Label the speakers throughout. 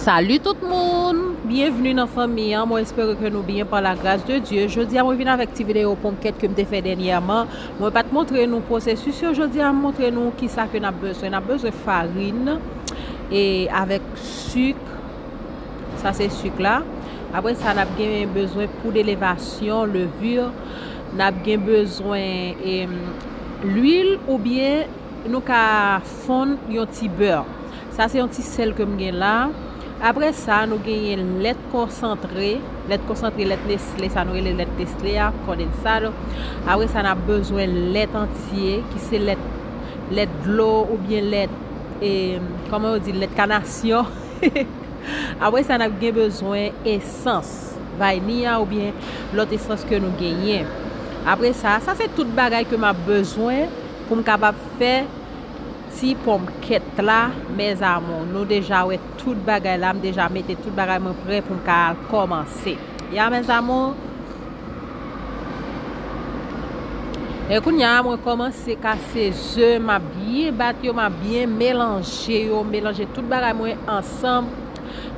Speaker 1: Salut tout moun, bienvenue nan fanmi an, mwen espere ke nou byen pa la gras de Dieu. Jodi a mwen vin avèk ti video ponkèt ke m te fè dènyèman. Mwen pat montre nou pwosesis yo jodi a, m montre nou ki sa ke nap bezwen. Nap bezwen farin e avèk suk, sa se suk la. Apre sa nap gen bezwen poud elevasyon, levure, nap gen bezwen lwil oubyen nou ka Fonn yon ti beurre. Sa se yon ti sèl ke m gen la. Apre sa, nou genyen lèt konsantre. Lèt konsantre, lèt Nestlé, sa nou rele lèt Nestlé a, condensado. Apre sa, n ap bezwen lèt antye, ki se lèt, lèt dlo ou byen lèt, e, kòman yo di l, lèt kanasyon. Apre sa, n ap gen bezwen esans, vayniya ou byen lòt esans ke nou genyen. Apre sa, sa se tout bagay ke m ap bezwen pou m kapab fè. ti ponmkèt la mes amours nou deja wè tout bagay la m deja mete tout bagay mwen prè poum ka al kòmanse ya mes amours e kounya mwen kòmanse kase ze map byen bat yo map byen melanje yo melanje tout bagay mwen ansanm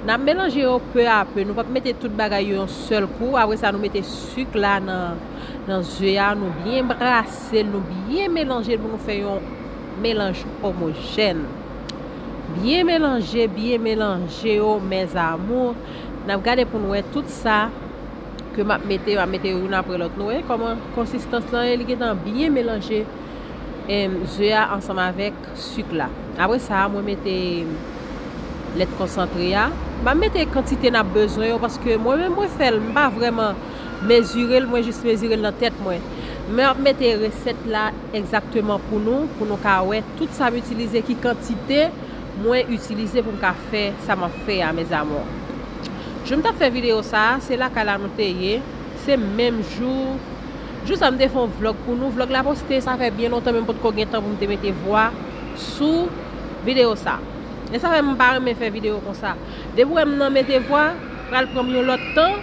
Speaker 1: nap melanje yo peu a peu nou pap mete tout bagay yo yon sèl kou apre sa nou mete suk la nan nan ze a nou byen brase. Sèl nou byen melanje pou nou fè yon melanj omojèn. Byen melanje, byen melanje yo mes amours. Nap gade pou nou wè tout sa ke map mete yo, map mete yo youn aprè lòt. Nou wè kòman konsistans lan ye, li gentan byen melanje ze a ansanm avèk suk la. Aprè sa mwen mete lèt konsantre a. Map mete kantite nap bezwen yo paske mwen menm mwen fèl m pa vrèman mezire l mwen jis mezire l nan tèt mwen mwen ap mete resèt la egzakteman pou nou pou nou ka wè tout sa m itilize ki kantite mwen itilize pou m ka fè sa m ap fè a mes amour jou m tap fè video sa se lakay la nou te ye se menm jou jou sa m te fè yon vlog pou nou vlog la poste sa fè byen lontan men m potko gen tan pou m te mete vwa sou video sa e sa fè m pa renmen fè video konsa depi w wè m nan mete vwa pral pran m yon lòt tan.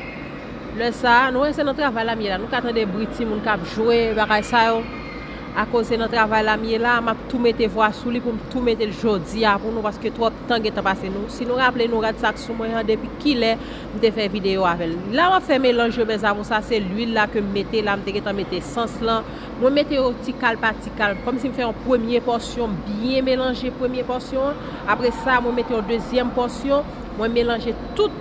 Speaker 1: Lè sa, nou wè se nan travay la m ye la, nou ka tande bri timoun k ap jwe, bagay sa yo. Akoz se nan travay la m ye la, m ap tou mete vwa sou li pou m tou mete l jodi a pou nou paske twòp tan gentan pase. Si nou raple nou, rad sa k sou mwen an depi kilè m te fè videyo avè l. La m ap fè melanj yo mèzamou, sa se lwil la ke m mete la, m te gentan mete esans lan. Mwen mete yo ti kal pa ti kal, kòm si m fè yon premye pòsyon, m byen melanje premye pòsyon an, apre sa mwen mete yon dezyèm pòsyon, mwen melanje tout.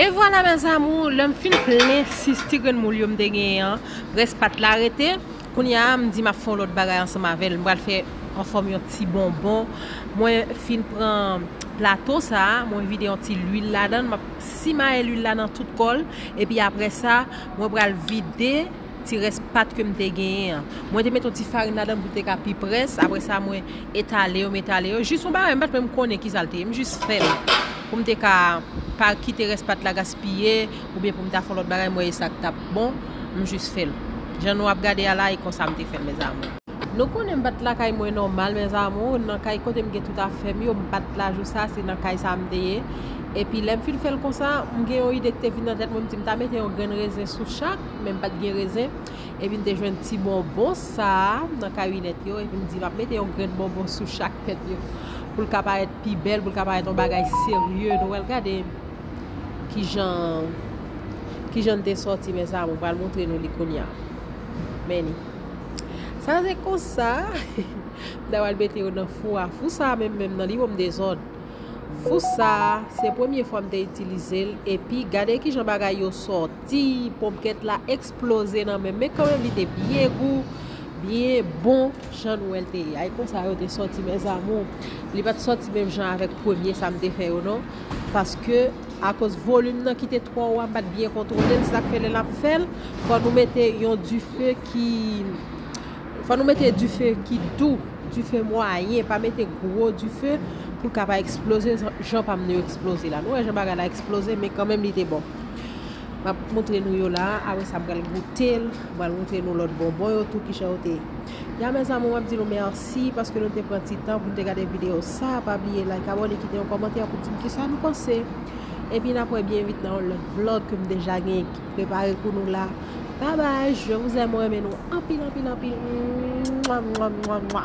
Speaker 1: E vwala mes amours lèm fin plen 6 ti grenn moul yo m te genyen an rès pat la rete kounya m di map fè yon lòt bagay ansanm avèl m pral fè anfòm yon ti bonbon mwen fin pran plato sa mwen vide yon ti lwil ladann map simaye lwil la nan tout kòl epi aprèsa mwen pral vide Ti rès pat ke m te genyen an. Mwen te met yon ti farin ladan l pou l te ka pi près. Apre sa mwen etale yo, m etale yo. Jis yon bagay m pat menm konnen kisa l te ye. M jis fè l pou m te ka pa kite rès pat la gaspiye oubyen pou m ta fè yon lòt bagay m wè e sa k t ap bon. M jis fè l. Jan nou ap gade a la e konsa m te fè l mèzamou. Nou konnen m pat lakay mwen nòmal mèzamou. Nan kay kote m gen tout afè m yo. M pat la jou sa a. Se nan kay sa a m te ye. Epi lè m fin fè l konsa, m gen yon ide ki te vin nan tèt mwen. M di m ta mete yon grenn rezen sou chak. men m pa t gen rezen. Epi m te jwenn ti bonbon sa a nan karinèt yo. Epi m di m ap mete yon grenn bonbon sou chak tèt yo. Pou l ka parèt pi bèl, pou l ka parèt yon bagay serye. Nou wè l? Gade kijan l te sòti mes amour. M pral montre nou li kounya. Men ni. Sa se konsa. M ta pral mete yo nan fou a. Fou sa a menm menm nan li wonm dezòd. Fou sa a, se premye fwa m te itilize l. Epi gade kijan bagay yo sòti. Ti ponpkèt la eksploze nan menm men kanmenm li te byen gou, byen bon jan nou wè l te ye. Ay konsa yo te sòti mes amours. Li pa t sòti menm jan avèk premye sa m te fè yo non. Paske akoz volim nan ki te twò wa m pa t byen kontwole l se sa k fè lè n ap fè l fò nou mete yon dife ki fò nou mete dife ki dou, dife mwayen pa mete gwo dife pou l ka pa eksploze jan pa m nan yo eksploze la. Nou wè jan bagay la eksploze men kanmenm li te bon. Map moutre nou yo la apre sa pral goutel pral moutre nou lòt bonbon yo tou kijan yo te Ya mes amour map di nou merci paske nou te pran ti tan pou nou te gade video sa pa bliye like abone kite yon kòmantè pou di m kisa nou panse epi nap wè byen vit nan yon lòt vlog ke m deja gen prepare pou nou la bye bye je vous aime mwen renmen nou anpil anpil anpil mwa mwa mwa mwa.